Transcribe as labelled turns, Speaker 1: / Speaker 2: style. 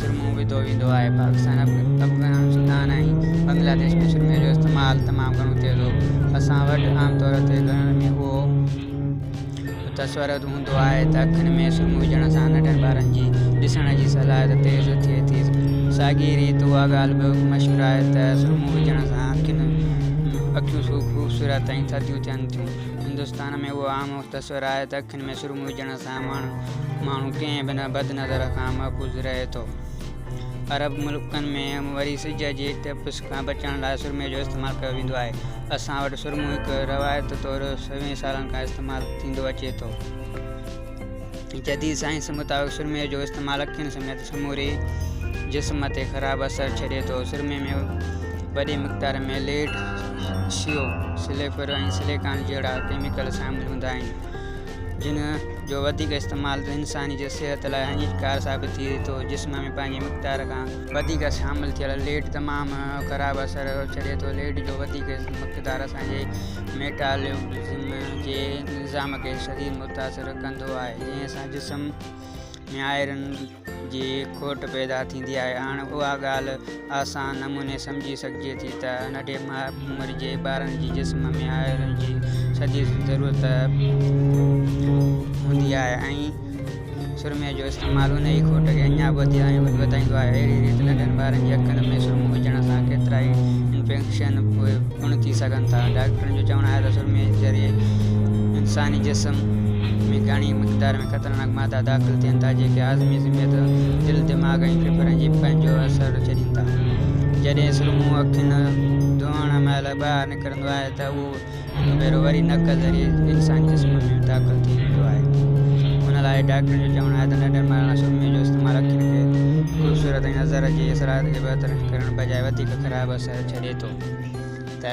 Speaker 1: چرمون وڌو ويندو آهي. پاڪستان، افغانستان ۽ بنگلاديش ۾ سرمي جو استعمال تمام گهڻو ٿئي ٿو. اسان وٽ عام طور تي گهرن ۾ اهو تصورت هوندو آهي ته اکين ۾ سرمو وجهڻ سان ننڍن ٻارن جي ڏسڻ جي صلاحيت تيز ٿئي ٿي. ساڳي ريت اها ڳالهه به مشهور آهي ته سرمو وجهڻ سان اکيون خوبصورت ۽ ٿڌيون ٿين ٿيون. هندستان ۾ اهو عام تصور آهي ته اکين ۾ محروم هجڻ سان ماڻهو ڪنهن به بد نظر کان محفوظ رهي ٿو. عرب ملڪن ۾ وري سج جي تپش کان بچڻ لاء سرمي جو استعمال ڪيو ويندو آهي. اسان وٽ سرمو هڪ روايت طور سوين سالن کان استعمال ٿيندو اچي ٿو. جديد سائنس مطابق سرمي جو استعمال اکين سميت سموري جسم تي خراب اثر ڇڏي ٿو. سرمي ۾ وڏي مقدار ۾ ليڊ، شيو، سليفر ۽ سليڪان جهڙا ڪيميڪل شامل هوندا آهن. جنھن جو وڌيڪ استعمال ته انسان جي صحت لاء ھاڃيڪار ثابت ٿئي ٿو، جسم ۾ پنھنجي مقدار کان وڌيڪ شامل ٿيل ليڊ تمام خراب اثر ڇڏي ٿو، ليڊ جو وڌيڪ مقدار اسان جي ميٽالبولزم جي نظام کي شديد متاثر ڪندو آھي جنھن سان جسم ۾ آئرن جي کوٽ پيدا ٿيندي آهي. هاڻ اها ڳالهه آسان نموني سمجهي سگهجي ٿي ته ننڍي عمر جي ٻارن جي جسم ۾ آئرن جي شديد ضرورت هوندي آهي ۽ سرمي جو استعمال ان ئي کوٽ کي اڃا به وڌيا ۽ وڌائيندو آهي. اهڙي ريت ننڍن ٻارن جي اکين ۾ سرمو وجهڻ سان ڪيترائي انفيڪشن پڻ ٿي سگهن ٿا. ڊاڪٽرن جو چوڻ آهي ته سرمي ذريعي انساني جسم ۾ گهڻي مقدار ۾. خطرناڪ مادا داخل ٿين ٿا، جيڪي عازمي سميت دل، دماغ ۽ ڦڦڙن جي پنهنجو اثر ڇڏين ٿا. جڏهن سرمو اکين ڌوئڻ مهل ٻاهر نڪرندو آهي ته اهو هڪ ڀيرو وري نڪ ذريعي انساني جسم ۾ داخل ٿي ويندو آهي. ان لاء ڊاڪٽرن جو چوڻ آهي ته ننڍن ٻارن لاء سرمي جو استعمال اکين کي خوبصورت ۽ نظر جي صلاحيت کي بهتر ڪرڻ بجاء وڌيڪ خراب اثر ڇڏي ٿو ته